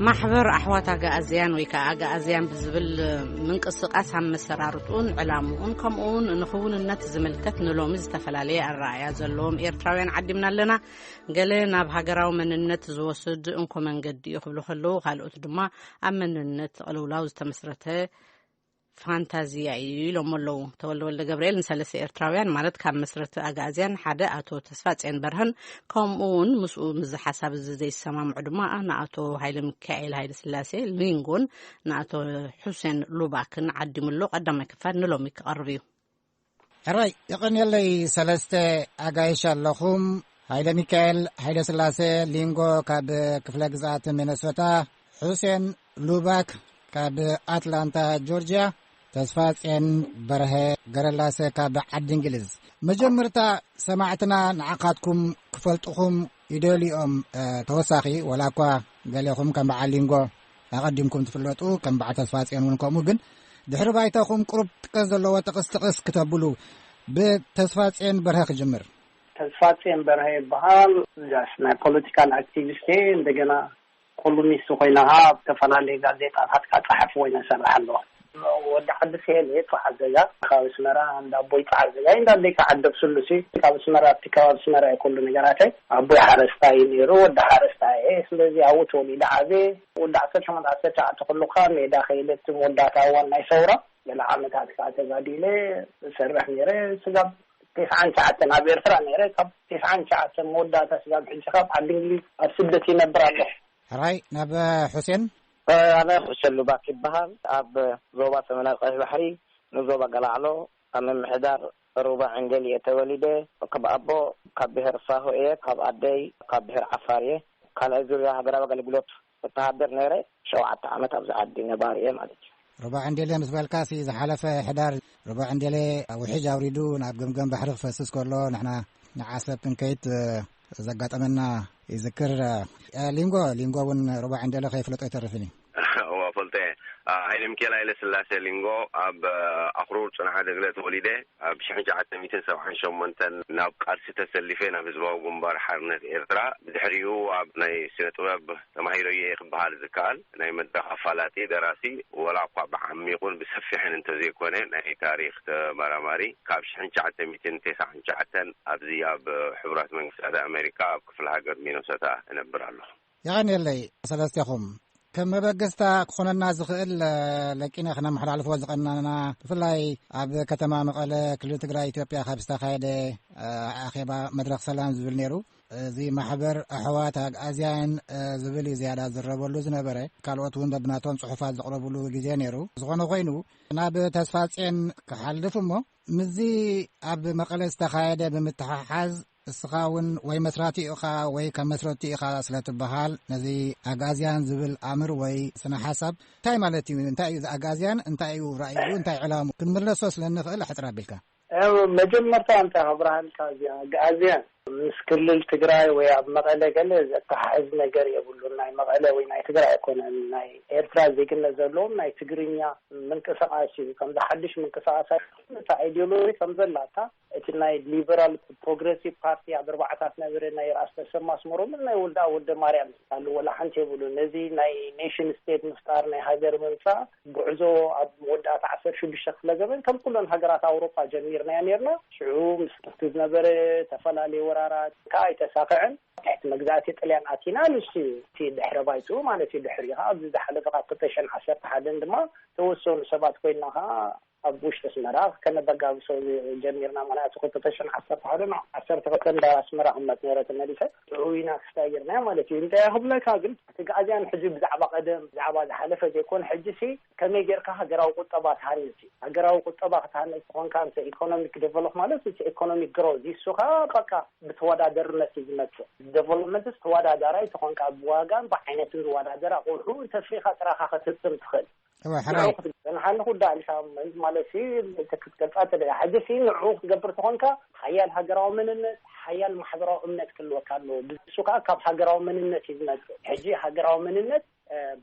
ማሕበር ኣሕዋት ኣጋኣዝያን ወይ ከዓ ኣጋኣዝያን ብዝብል ምንቅስቃስ ኣመሰራርጡን ዕላምኡን ከምኡ ውን ንክውንነት ዝምልከት ንሎሚ ዝተፈላለየ ኣረኣያ ዘለዎም ኤርትራውያን ዓዲምና ኣለና ገለ ናብ ሃገራዊ መንነት ዝወስድ እንኮ መንገዲ እዩ ክብሉ ከለዉ ካልኦት ድማ ኣብ መንነት ቕልውላው ዝተመስረተ ፋንታዚያ እዩ ኢሎሞ ኣለዉ ተወልደ ወልደ ገብርኤል ንሰለስተ ኤርትራውያን ማለት ካብ መስረቲ ኣግኣዝያን ሓደ ኣቶ ተስፋ ጼን በርሀን ከምኡ እውን ምስኡ ምዚ ሓሳብ እዚ ዘይሰማምዑ ድማ ንኣቶ ሃይለ ሚካኤል ሃይለ ስላሴ ሊንጎን ንኣቶ ሑሴን ሉባክን ዓዲሙሎ ቀዳማይ ክፋል ንሎሚ ክቐርብ እዩ ሕራይ የቐንየለይ ሰለስተ ኣጋይሽ ኣለኹም ሃይለ ሚካኤል ሃይለ ስላሴ ሊንጎ ካብ ክፍለ ግዝኣት ሚነሶታ ሑሴን ሉባክ ካብ ኣትላንታ ጆርጅያ ተስፋ ጼን በርሀ ገረላሰ ካብ ዓዲ እንግሊዝ መጀመርታ ሰማዕትና ንዓኻትኩም ክፈልጥኹም ይደልኦም ተወሳኺ ወላ እኳ ገሌኹም ከም በዓል ሊንጎ ኣቐዲምኩም ትፍለጡ ከም በዓል ተስፋጽዮን እውን ከምኡ ግን ድሕሪ ባይታኹም ቅሩብ ጥቀስ ዘለዎ ጥቕስ ጥቕስ ክተብሉ ብተስፋጽዮን በርሀ ክጅምር ተስፋጽዮን በርሀ ይበሃል ጋሽ ናይ ፖለቲካል ኣክቲቪስት እየ እንደገና ኮሉሚስት ኮይነ ከዓ ኣብ ዝተፈላለዩ ጋዜጣታት ከዓ ፀሓፊ ኮይነ እሰርሕ ኣለኹ ወዲ ዓዲ ሴል እየ ጸዓድ ዘጋ ከባቢ ኣስመራ እንዳ ኣቦይ ጸዓድ ዘጋ እንዳ ኣደይ ጸዓድ ዶብ ስሉስ እዩ ካብ ኣስመራ ኣብቲ ከባቢ ኣስመራ እዩ ኩሉ ነገራተይ ኣቦይ ሓረስታይ እዩ ነይሩ ወዲ ሓረስታይ እየ ስለዚ ኣብኡ ተወሊደ ዓብየ ወዲ ዓሰርተ ሸሞንተ ዓሰርተ ትሽዓተ ከለኩ ከዓ ሜዳ ከይደ እቲ መወዳእታ እዋን ናይ ሰውራ ገለ ዓመታት ከዓ ተጋዲለ ዝሰርሕ ነይረ ስጋብ ቴስዓን ትሽዓተን ኣብ ኤርትራ ነይረ ካብ ቴስዓን ትሽዓተን መወዳእታ ስጋብ ሕጂ ካብ ዓዲ እንግሊዝ ኣብ ስደት ይነብር ኣለኩ ሕራይ ናብ ሑሴን ኣነ ሕሸ ሉባክ ይበሃል። ኣብ ዞባ ሰሜናዊ ቀይሕ ባሕሪ ንዞባ ገላዕሎ ኣብ ምምሕዳር ሩባ ዕንገሊ እየ ተወሊደ። ካብ ኣቦ ካብ ብሄር ሳሆ እየ፣ ካብ ኣደይ ካብ ብሄር ዓፋር እየ። ካልኣይ ዙርያ ሃገራዊ ኣገልግሎት ወተሃደር ነይረ። ሸውዓተ ዓመት ኣብዚ ዓዲ ነባሪ እየ ማለት እዩ። ሩባ ዕንዴሌ ምስ በልካሲ ዝሓለፈ ሕዳር ሩባ ዕንዴሌ ውሕጅ ኣውሪዱ ናብ ገምገም ባሕሪ ክፈስስ ከሎ ንሕና ንዓሰብ ክንከይድ ዘጋጠመና ይዝክር ሊንጎ ሊንጎ እውን ሩባ ዕንዴሌ ከይፍለጦ ኣይተርፍን እዩ ሃይለ ሚካኤል ሃይለ ስላሴ ሊንጎ ኣብ ኣክሩር ፅንሓ ደግለ ተወሊደ ኣብ ሽሕ ሸዓተ ሚትን ሰብዓን ሸሞንተን ናብ ቃልሲ ተሰሊፈ ናብ ህዝባዊ ግንባር ሓርነት ኤርትራ ብድሕሪኡ ኣብ ናይ ስነ ጥበብ ተማሂሮ እየ ክበሃል ዝከኣል ናይ መድረኽ ኣፋላጢ ደራሲ ወላኳ ብዓሚቑን ብሰፊሕን እንተዘይኮነ ናይ ታሪኽ ተመራማሪ ካብ ሽሕን ትሽዓተ ሚእትን ተሰዓን ትሽዓተን ኣብዚ ኣብ ሕቡራት መንግስታት ኣመሪካ ኣብ ክፍለ ሃገር ሚኖሶታ እነብር ኣለኹ። የቐንየለይ ሰለስቴኹም። ከም መበገስታ ክኾነና ዝኽእል ለቂነ ክነመሓላልፎ ዝቐናና ብፍላይ ኣብ ከተማ መቐለ ክልል ትግራይ ኢትዮጵያ ካብ ዝተኻየደ ኣኼባ መድረኽ ሰላም ዝብል ነይሩ እዚ ማሕበር ኣሕዋት ኣግኣዝያን ዝብል እዩ ዝያዳ ዝረበሉ ዝነበረ ካልኦት እውን በብናቶም ፅሑፋት ዘቕረብሉ ግዜ ነይሩ ዝኾነ ኮይኑ ናብ ተስፋፅን ክሓልፍ እሞ ምስዚ ኣብ መቐለ ዝተኻየደ ብምትሓሓዝ እስኻ እውን ወይ መስራቲ ኢኻ ወይ ከም መስረቲ ኢኻ ስለ ትበሃል ነዚ ኣግኣዝያን ዝብል ኣምር ወይ ስነ ሓሳብ እንታይ ማለት እዩ እንታይ እዩ ኣግኣዝያን እንታይ እዩ ራእዩ እንታይ ዕላሙ ክንምለሶ ስለ ንኽእል ኣሕፅር ኣቢልካ መጀመርታ እንታይ ከብርሃልካ እዚ ኣግኣዝያን ምስ ክልል ትግራይ ወይ ኣብ መቐለ ገለ ዘተሓሕዝ ነገር የብሉን ናይ መቐለ ወይ ናይ ትግራይ ኣይኮነን ናይ ኤርትራ ዜግነት ዘለዎም ናይ ትግርኛ ምንቅስቃስ እዩ ከምዚ ሓድሽ ምንቅስቃስ ኣይኮነን እታ ኣይዲዮሎጂ ከምዘላታ እቲ ናይ ሊበራል ፕሮግረሲቭ ፓርቲ ኣብ ኣርባዕታት ነበረ ናይ ራስ ተሰማ ኣስመሮምን ናይ ወልዳ ወልደ ማርያም ዝካሉ ወላ ሓንቲ የብሉን ነዚ ናይ ኔሽን ስቴት ምፍጣር ናይ ሃገር ምምፃእ ጉዕዞ ኣብ መወዳእታ ዓሰርተ ሽዱሽተ ክፍለ ዘበን ከም ኩለን ሃገራት ኣውሮጳ ጀሚርናዮ ኔርና። ሽዑ ምስ እቲ ዝነበረ ተፈላለየ ወራራት ከኣ ኣይተሳኸዐን። ኣብ ትሕቲ መግዛእቲ ጥልያን ኣቲና። ንሱ እዩ እቲ ድሕረ ባይትኡ ማለት እዩ። ድሕሪኡ ከኣ ኣብዚ ዝሓለፈ ካብ ክልተ ሽሕን ዓሰርተ ሓደን ድማ ተወሰኑ ሰባት ኮይንና ከኣ ኣብ ውሽጢ ኣስመራ ከነበጋግሶ ጀሚርና ምክንያቱ ክልተ ሽሕን ዓሰርተ ሓደን ዓሰርተ ክልተን እንዳ ኣስመራ ክምመጽ ነይረ ተመሊሰ ርኡይና ክስታይ ጌርናዮ ማለት እዩ እንታይ ክብለካ ግን እቲ ግኣዝያን ሕጂ ብዛዕባ ቀደም ብዛዕባ ዝሓለፈ ዘይኮነ ሕጂሲ ከመይ ጌርካ ሃገራዊ ቁጠባ ትሃንጽ እዩ ሃገራዊ ቁጠባ ክትሃንጽ ተኾንካ እንተ ኢኮኖሚክ ደቨሎፕ ማለት እቲ ኢኮኖሚክ ግሮዝ ይሱ ከኣ በቃ ብተወዳደርነት እዩ ዝመጽእ ደቨሎፕመንትስ ተወዳዳራይ ተኾንካ ብዋጋን ብዓይነትን ዝወዳደር ኣቑሑ እንተፍሪኻ ጥራኻ ክትህብትም ትኽእል እወ ሕራይ ንሓሊ ኩዳ ኢልካ ማለት ክትገልፃ እተ ሕዚ ሲ ንዑ ክትገብር ተኾንካ ሓያል ሃገራዊ መንነት ሓያል ማሕበራዊ እምነት ክልወካ ኣለዎ ብሱ ከዓ ካብ ሃገራዊ መንነት እዩ ዝመፅእ ሕጂ ሃገራዊ መንነት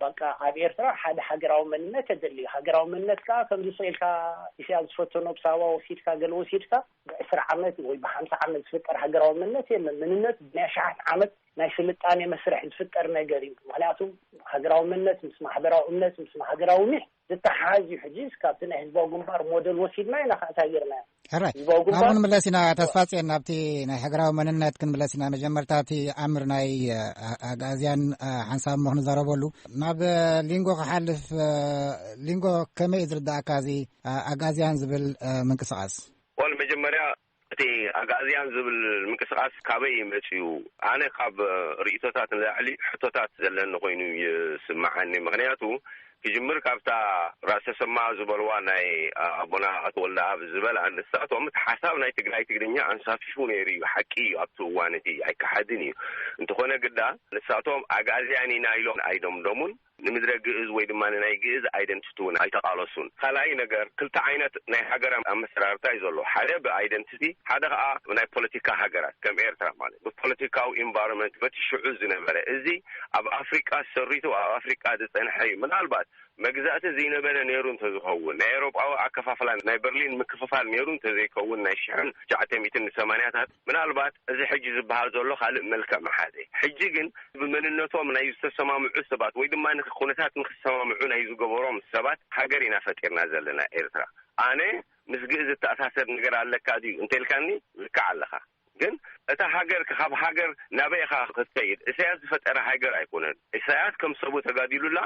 በቃ ኣብ ኤርትራ ሓደ ሃገራዊ መንነት የድልዩ ሃገራዊ መንነት ከዓ ከምዚ ስኢልካ ኢስያ ዝፈተኖ ብሳባ ወሲድካ ገለ ወሲድካ ብዕስራ ዓመት ወይ ብሓምሳ ዓመት ዝፍጠር ሃገራዊ መንነት የለ መንነት ብናይ ሸሓት ዓመት ናይ ስልጣኔ መስርሕ ዝፍጠር ነገር እዩ። ምክንያቱ ሃገራዊ መነት ምስ ማሕበራዊ እምነት ምስ ሃገራዊ ኒሕ ዝተሓሓዝ እዩ። ሕጂስ ካብቲ ናይ ህዝባዊ ግንባር ሞደል ወሲድና ኢና ከእንታይ ጌርናዮ ናብኡ ንምለስ ኢና ተስፋጽን ናብቲ ናይ ሃገራዊ መንነት ክንምለስ ኢና መጀመርታ እቲ ኣምር ናይ ኣግኣዝያን ሓንሳብ ሞ ክንዘረበሉ ናብ ሊንጎ ክሓልፍ ሊንጎ ከመይ እዩ ዝርዳእካ እዚ ኣግኣዝያን ዝብል ምንቅስቃስ ወል መጀመርያ እቲ ኣግኣዝያን ዝብል ምንቅስቃስ ካበይ እዩ መጺኡ? ኣነ ካብ ርእይቶታት ንላዕሊ ሕቶታት ዘለኒ ኮይኑ እዩ ዝስመዓኒ። ምኽንያቱ ክጅምር ካብታ ራስ ተሰማ ዝበልዋ ናይ ኣቦና ኣቶ ወልደኣብ ዝበላ ንሳቶም እቲ ሓሳብ ናይ ትግራይ ትግርኛ ኣንሳፊፉ ነይሩ እዩ ሓቂ እዩ ኣብቲ እዋን እቲ ኣይከሓድን እዩ። እንተኾነ ግዳ ንሳቶም ኣግኣዝያን ኢና ኢሎም ኣይደምደሙን። ንምድረ ግእዝ ወይ ድማ ንናይ ግእዝ ኣይደንቲቲ እውን ኣይተቓለሱን። ካልኣይ ነገር ክልተ ዓይነት ናይ ሃገር ኣመሰራርታ እዩ ዘሎ። ሓደ ብኣይደንቲቲ ሓደ ከኣ ብናይ ፖለቲካ ሃገራት ከም ኤርትራ ማለት ብፖለቲካዊ ኢንቫሮመንት በቲ ሽዑ ዝነበረ እዚ ኣብ ኣፍሪቃ ሰሪቱ ኣብ ኣፍሪቃ ዝጸንሐ እዩ። ምናልባት መግዛእቲ ዝይነበረ ነይሩ እንተዝኸውን ናይ ኤውሮጳዊ ኣከፋፍላ ናይ በርሊን ምክፍፋል ነይሩ እንተዘይከውን ናይ ሽሕን ትሽዓተ ሚእትን ንሰማንያታት ምናልባት እዚ ሕጂ ዝበሃል ዘሎ ካልእ መልክዕ ምሓዘ። ሕጂ ግን ብመንነቶም ናይ ዝተሰማምዑ ሰባት ወይ ድማ ንኩነታት ንክሰማምዑ ናይ ዝገበሮም ሰባት ሃገር ኢና ፈጢርና ዘለና ኤርትራ። ኣነ ምስ ግእዝ ዝተኣሳሰር ነገር ኣለካ ድዩ እንተልካኒ ልክዕ ኣለኻ። ግን እታ ሃገር ካብ ሃገር ናበይ ኢኻ ክትከይድ ኢሳያስ ዝፈጠራ ሃገር ኣይኮነን። ኢሳያስ ከም ሰቡ ተጋዲሉላ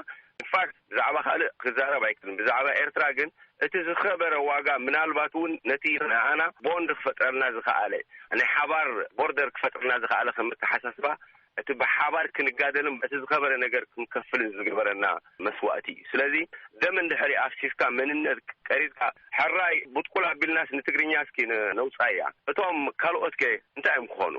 ኢንፋክት። ብዛዕባ ካልእ ክዛረብ ኣይክእልን ብዛዕባ ኤርትራ ግን እቲ ዝኸበረ ዋጋ ምናልባት እውን ነቲ ንኣና ቦንድ ክፈጥረልና ዝኸኣለ ናይ ሓባር ቦርደር ክፈጥርልና ዝኸኣለ ከም ኣተሓሳስባ እቲ ብሓባር ክንጋደልን በቲ ዝኸበረ ነገር ክንከፍልን ዝገበረና መስዋእቲ እዩ ስለዚ ደም እንድሕሪ ኣፍሲስካ መንነት ቀሪጽካ ሕራይ ቡጥቁል ኣቢልናስ ንትግርኛ እስኪ ነውጻያ እቶም ካልኦትከ እንታይ እዮም ክኾኑ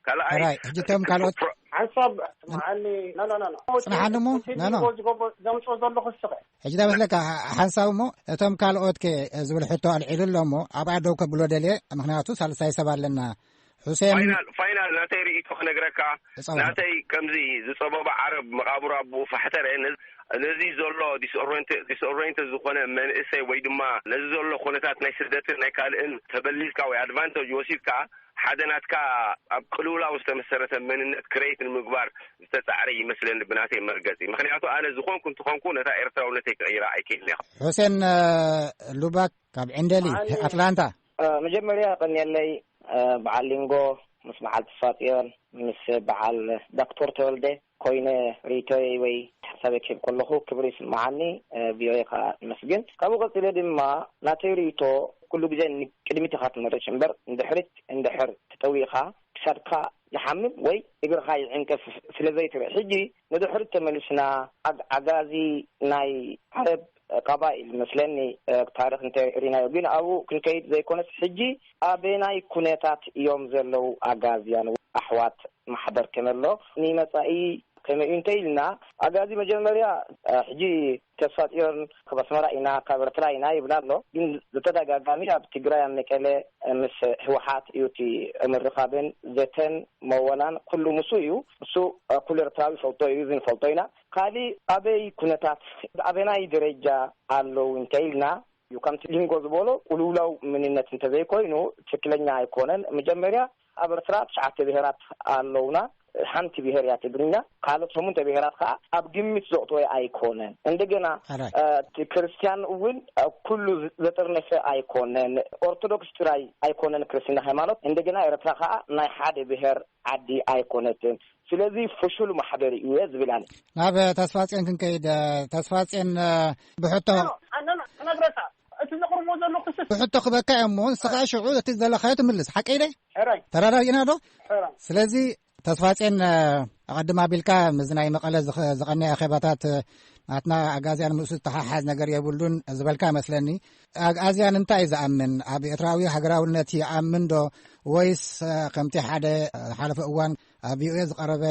ካልኣይ ሕራይ ሕጂ እቶም ካልኦት ሓንሳብ ንዓኒ ኖ ኖ ኖ ጽንሓኒ እሞ ኖ ኖ ቲቪ ዝገብ ዘምጽኦ ዘለኹ እስኸ ሕጂ እንታይ መስለካ ሓ- ሓንሳብ እሞ እቶም ካልኦት ከ ዝብል ሕቶ ኣልዒሉ ኣሎ እሞ ኣብኣ ደው ከብሎ ደልየ ምክንያቱ ሳልሳይ ሰብ ኣለና ሑሴን ፋይናል ፋይናል ናተይ ርእይቶ ክነግረካ ጸወታ ናተይ ከምዚ ዝጸበበ ዓረብ መቓብሩ ኣቡኡ ፋሕተረ ነዚ- ነዚ ዘሎ ዲስኦሬንት- ዲስኦሬንት ዝኾነ መንእሰይ ወይ ድማ ነዚ ዘሎ ኩነታት ናይ ስደትን ናይ ካልእን ተበሊጽካ ወይ ኣድቫንተጅ ወሲድካ ሓደ ናትካ ኣብ ቅልውላው ዝተመሰረተ መንነት ክረይት ንምግባር ዝተጻዕረ ይመስለኒ ብናተይ መርገጺ ምክንያቱ ኣነ ዝኮንኩ እንተኮንኩ ነታ ኤርትራውነተይ ክቅይራ ኣይክእልን እየ። ሑሴን ሉባክ ካብ ዕንደሊ ኣትላንታ። መጀመርያ የቀንየለይ በዓል ሊንጎ ምስ በዓል ተስፋጽዮን ምስ በዓል ዳክቶር ተወልደ ኮይነ ሪኢቶይ ወይ ሓሳበይ ክህብ ከለኹ ክብሪ ይስማዓኒ ቪኦኤ ከኣ የመስግን ካብኡ ቀጺለ ድማ ናተይ ሪኢቶ ኩሉ ግዜ ንቅድሚት ኢኻ ትምርሽ እምበር ንድሕሪት እንድሕር ተጠዊኻ ክሳድካ ይሓምም ወይ እግርኻ ይዕንቅፍ ስለዘይትርኢ ሕጂ ንድሕሪት ተመሊስና ኣግ ኣጋዚ ናይ ዓረብ ቀባኢ ዝመስለኒ ታሪኽ እንተ ሪናዮ ግን ኣብኡ ክንከይድ ዘይኮነስ ሕጂ ኣበናይ ኩነታት እዮም ዘለዉ ኣጋዝያን ኣሕዋት ማሕበር ከመሎ ንመጻኢ ከመይ እዩ እንተ ኢልና ኣጋዚ መጀመርያ ሕጂ ተስፋጽዮን ካብ ኣስመራ ኢና ካብ ኤርትራ ኢና ይብላ ኣሎ ግን ብተደጋጋሚ ኣብ ትግራይ ኣብ መቀለ ምስ ህወሓት እዩ እቲ ምርኻብን ዘተን መወላን ኩሉ ምሱ እዩ ምሱ ኩሉ ኤርትራዊ ይፈልጦ እዩ እዚ ንፈልጦ ኢና ካሊእ ኣበይ ኩነታት ኣበናይ ደረጃ ኣለው እንተኢልና እዩ ከምቲ ሊንጎ ዝበሎ ቁልውላው ምንነት እንተዘይኮይኑ ትክክለኛ ኣይኮነን መጀመርያ ኣብ ኣርትራ ትሽዓተ ብሄራት ኣለውና ሓንቲ ብሄር እያ ትግርኛ ካልኦት ሸሙንተ ብሄራት ከዓ ኣብ ግምት ዘቕጥወ ኣይኮነን እንደገና ክርስትያን እውን ኩሉ ዘጥርነፈ ኣይኮነን ኦርቶዶክስ ጥራይ ኣይኮነን ክርስትና ሃይማኖት እንደገና ኤርትራ ከዓ ናይ ሓደ ብሄር ዓዲ ኣይኮነትን ስለዚ ፍሹል ማሕበር እየ ዝብል ኣነ። ናብ ተስፋጼን ክንከይድ ተስፋጼን ብሕቶ ነግረካ እቲ ዘቕርቦ ዘሎ ክስ ብሕቶ ክበካ እዮም ሞ ንስኻ ሽዑ እቲ ዘለኻዮ ትምልስ ሓቀይ ደ ተረዳዲእና ዶ ስለዚ ተስፋጼን ኣቐድም ኣቢልካ ምዚ ናይ መቐለ ዝቐነየ ኣኼባታት ናትና ኣግኣዝያን ምእሱ ዝተሓሓዝ ነገር የብሉን ዝበልካ መስለኒ ኣግኣዝያን እንታይ እዩ ዝኣምን ኣብ ኤርትራዊ ሃገራውነት ይኣምን ዶ ወይስ ከምቲ ሓደ ሓለፈ እዋን ኣብ ቪኦኤ ዝቐረበ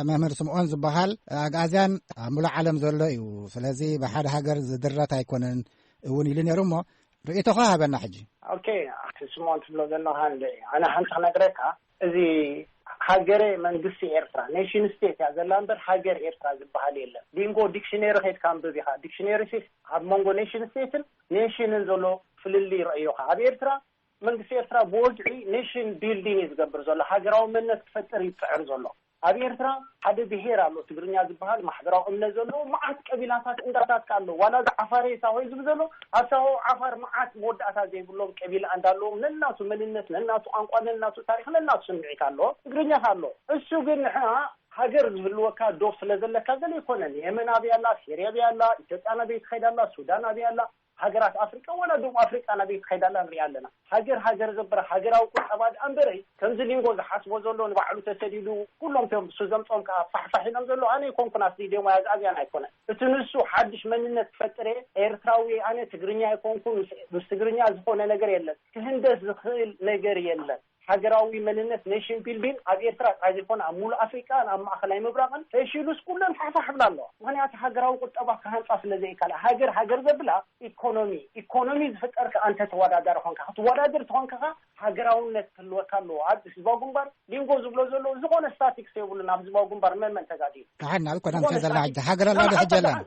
መምህር ስምኦን ዝበሃል ኣግኣዝያን ኣብ ሙሉእ ዓለም ዘሎ እዩ ስለዚ ብሓደ ሃገር ዝድረት ኣይኮነን እውን ኢሉ ነይሩ እሞ ርእቶኻ ሃበና ሕጂ ኦኬ ኣቲ ስምኦን ትብሎ ዘለካ ን ኣነ ሓንቲ ክነግረካ እዚ ሃገረ መንግስቲ ኤርትራ ኔሽን ስቴት እያ ዘላ እምበር ሃገር ኤርትራ ዝበሃል የለን ሊንጎ ዲክሽነሪ ከይድካ ንብብ ኢኻ ዲክሽነሪ ሲ ኣብ መንጎ ኔሽን ስቴትን ኔሽንን ዘሎ ፍልልይ ረእዮካ ኣብ ኤርትራ መንግስቲ ኤርትራ ብወግዒ ኔሽን ቢልዲን እዩ ዝገብር ዘሎ፣ ሃገራዊ መንነት ክፈጥር እዩ ዝጽዕር ዘሎ። ኣብ ኤርትራ ሓደ ብሄር ኣሎ ትግርኛ ዝበሃል ማሕበራዊ እምነት ዘለዎ መዓት ቀቢላታት እንዳታት ከኣ ኣሎ ዋላ እዚ ዓፋሬ ሳሆ ዝብል ዘሎ ኣብ ሳሆ ዓፋር መዓት መወዳእታ ዘይብሎም ቀቢላ እንዳ ኣለዎም ነናቱ መንነት ነናቱ ቋንቋ ነናቱ ታሪኽ ነናቱ ስምዒት ኣለዎ ትግርኛ ከኣ ኣሎ እሱ ግን ንሕና ሃገር ዝህልወካ ዶብ ስለ ዘለካ ገለ ኣይኮነን የመን ኣበይ ኣላ ሴርያ ኣበይ ኣላ ኢትዮጵያ ናበይ ትኸይድ ኣላ ሱዳን ኣበይ ኣላ ሃገራት ኣፍሪቃ ዋላ ደቡብ ኣፍሪቃ ናበይ ትኸይድ ኣላ ንሪኣ ኣለና ሃገር ሃገር ዘብላ ሃገራዊ ቁጠባ ድኣ እምበረይ ከምዚ ሊንጎ ዝሓስቦ ዘሎ ንባዕሉ ተሰዲዱ ኩሎም እቶም ንሱ ዘምጾም ከኣ ፋሕፋሕ ኢሎም ዘለዉ ኣነ ኣይኮንኩን ኣስዲደዮም ወይ ኣዛዝያን ኣይኮነን እቲ ንሱ ሓድሽ መንነት ክፈጥር እየ ኤርትራዊ እየ ኣነ ትግርኛ ኣይኮንኩን ምስ ትግርኛ ዝኾነ ነገር የለን ክህንደስ ዝኽእል ነገር የለን ሃገራዊ መንነት፣ Nation Building፣ ኣብ ኤርትራ ጥራይ ዘይኮነ ኣብ ምሉእ ኣፍሪቃን ኣብ ማእከላይ ምብራቕን ፈሺሉስ ኩለን ፋሕፋሕ ይብላ ኣለዋ። ምኽንያቱ ሃገራዊ ቁጠባ ክሃንጻ ስለ ዘይካላ። ሃገር ሃገር ዘብላ ኢኮኖሚ፣ ኢኮኖሚ ዝፍጠር ከኣ እንተ ተወዳዳሪ ኮንካ። ክትወዳደር ተኾንካ ከኣ ሃገራውነት ክህልወካ ኣለዎ። ኣብ ህዝባዊ ግንባር ሊንጎ ዝብሎ ዘሎ ዝኾነ ስታቲክስ የብሉን። ኣብ ህዝባዊ ግንባር መን መን ተጋዲሉ? ደሓን ኣብ ቀደም ከ ዘላ ሕጂ ሃገር ኣላ ዶ ሕጂ የላን?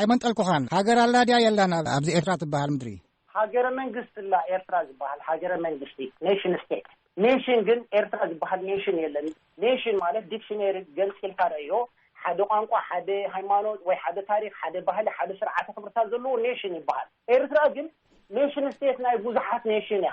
ኣይመንጠልኩኻን። ሃገር ኣላ ድያ የላን ኣብዚ ኤርትራ ትበሃል ምድሪ? ሃገረ መንግስቲ እላ ኤርትራ ዝባሃል ሃገረ መንግስቲ፣ Nation State፣ ኔሽን ግን ኤርትራ ዝባሃል ኔሽን የለን። ኔሽን ማለት ዲክሽነሪ ገንጺልካ ረኣዮ ሓደ ቋንቋ ሓደ ሃይማኖት ወይ ሓደ ታሪኽ ሓደ ባህሊ ሓደ ስርዓተ ክብርታት ዘለዎ ኔሽን ይባሃል። ኤርትራ ግን ኔሽን ስቴት ናይ ቡዙሓት ኔሽን እያ።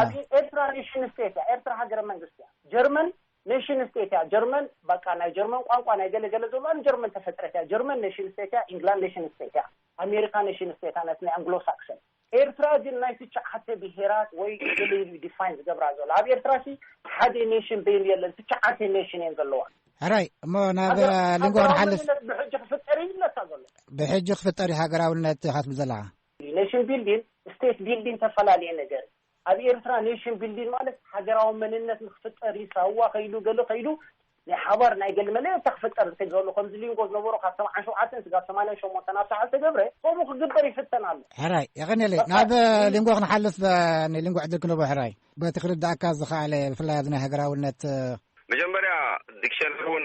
ኣብዚ ኤርትራ ኔሽን ስቴት እያ ኤርትራ ሃገረ መንግስቲ እያ ጀርመን ኔሽን ስቴት እያ ጀርመን በቃ ናይ ጀርመን ቋንቋ ናይ ገለ ገለ ዘሎ ኣብ ጀርመን ተፈጥረት እያ ጀርመን ኔሽን ስቴት እያ ኢንግላንድ ኔሽን ስቴት እያ ኣሜሪካ ኔሽን ስቴት እያ ናይ ኣንግሎ ሳክሰን ኤርትራ ግን ናይ ትሽዓተ ብሄራት ወይ ገለ ኢሉ ዲፋይን ዝገብራ ዘሎ ኣብ ኤርትራ ሲ ሓደ ኔሽን በይኑ የለን ትሽዓተ ኔሽን እየን ዘለዋ ሕራይ እሞ ናብ ሊንጎ ክንሓልፍ ብሕጂ ክፍጠር ይብለካ ዘሎ ብሕጂ ክፍጠር እዩ ሃገራውነት ኢኻ ትብል ዘለኻ ኔሽን ቢልዲን ስቴት ቢልዲን ተፈላለየ ነገር እዩ። ኣብ ኤርትራ ኔሽን ቢልዲን ማለት ሃገራዊ መንነት ንክፍጠር እዩ ሳዋ ከይዱ ገለ ከይዱ ናይ ሓባር ናይ ገለ መለለታ ክፍጠር ዝተገብረሉ ከምዚ ሊንጎ ዝነበሮ ካብ ሰብዓን ሸውዓተን ስጋብ ሰማንያን ሸሞንተን ኣብ ሳሕል ዝተገብረ ከምኡ ክግበር ይፍተን ኣሎ። ሕራይ የቀኔለይ ናብ ሊንጎ ክንሓልፍ ንሊንጎ ዕድል ክንህቦ ሕራይ። በቲ ክርዳእካ ዝኸኣለ ብፍላይ ኣብዚ ናይ ሃገራውነት መጀመርያ ዲክሸነሪ እውን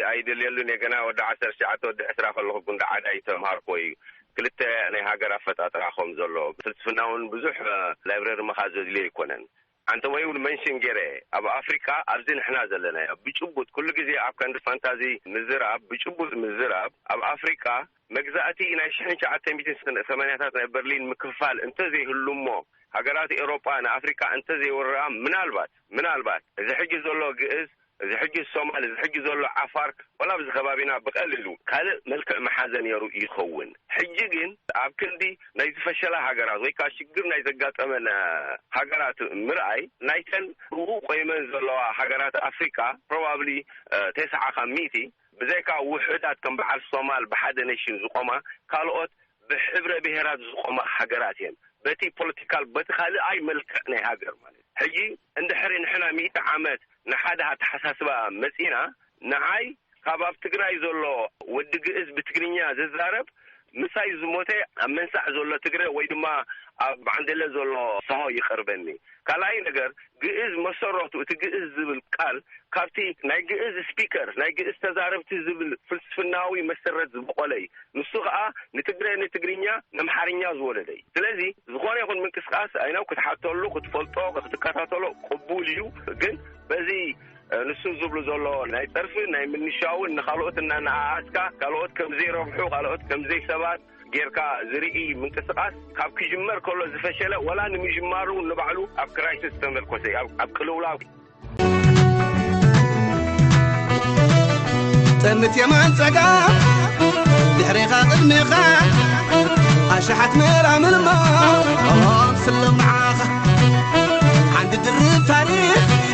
ኣይደልየሉን እየ ገና ወዲ ዓሰርተ ትሽዓተ ወዲ ዕስራ ከለኹ ጉንዳዓዳ እዩ ተምሃርክዎ እዩ ክልተ ናይ ሃገር ኣፈጣጥራ ከም ዘሎ ፍልስፍና እውን ብዙሕ ላይብረሪ ምኻድ ዘድልዮ ኣይኮነን ሓንቲ ወይ እውን መንሽን ገይረ ኣብ ኣፍሪቃ ኣብዚ ንሕና ዘለናዮ ብጭቡጥ ኩሉ ግዜ ኣብ ከንዲ ፋንታዚ ምዝራብ ብጭቡጥ ምዝራብ ኣብ ኣፍሪቃ መግዛእቲ ናይ ሽሕን ትሽዓተ ሚእትን ሰማንያታት ናይ በርሊን ምክፍፋል እንተ ዘይህሉ እሞ ሃገራት ኤውሮጳ ንኣፍሪቃ እንተ ዘይወርርኣ ምናልባት ምናልባት እዚ ሕጂ ዘሎ ግእዝ እዚ ሕጂ ሶማል እዚ ሕጂ ዘሎ ዓፋር ወላ ኣብዚ ከባቢና ብቐሊሉ ካልእ መልክዕ ምሓዘ ነይሩ ይኸውን። ሕጂ ግን ኣብ ክንዲ ናይ ዝፈሸላ ሃገራት ወይ ከኣ ሽግር ናይ ዘጋጠመን ሃገራት ምርኣይ ናይተን ብኡ ቆይመን ዘለዋ ሃገራት ኣፍሪቃ ፕሮባብሊ ተስዓኻ ሚእቲ ብዘይካ ውሑዳት ከም በዓል ሶማል ብሓደ ነሽን ዝቖማ ካልኦት ብሕብረ ብሄራት ዝቖማ ሃገራት እየን በቲ ፖለቲካል በቲ ካልኣይ መልክዕ ናይ ሃገር ማለት እዩ ሕጂ እንድሕሪ ንሕና ሚእቲ ዓመት ንሓደ ኣተሓሳስባ መጺእና ንዓይ ካብ ኣብ ትግራይ ዘሎ ወዲ ግእዝ ብትግርኛ ዝዛረብ ምሳይ ዝሞተ ኣብ መንሳዕ ዘሎ ትግረ ወይ ድማ ኣብ ዓንደለ ዘሎ ሰሆ ይቐርበኒ። ካልኣይ ነገር ግእዝ መሰረቱ እቲ ግእዝ ዝብል ቃል ካብቲ ናይ ግእዝ ስፒከር ናይ ግእዝ ተዛረብቲ ዝብል ፍልስፍናዊ መሰረት ዝቦቖለ እዩ። ንሱ ከኣ ንትግረ ንትግርኛ ነምሓርኛ ዝወለደ እዩ። ስለዚ ዝኾነ ይኹን ምንቅስቃስ ኣይ ነው ክትሓተሉ ክትፈልጦ ክትከታተሎ ቅቡል እዩ ግን በዚ ንሱ ዝብሉ ዘሎ ናይ ጸርፊ ናይ ምንሻውን ንኻልኦት እናነኣኣስካ ካልኦት ከም ዘይረብሑ ካልኦት ከም ዘይሰባት ጌርካ ዝርኢ ምንቅስቓስ ካብ ክጅመር ከሎ ዝፈሸለ ወላ ንምጅማሩ እውን ንባዕሉ ኣብ ክራይሲስ ዝተመርኮሰ እዩ ኣብ ቅልውላው ጠምት የማን ጸጋም ድሕሬኻ ቅድሜኻ ኣሽሓት መራምርማ ስሎም መዓኻ ዓንዲ ድርብ ታሪኽ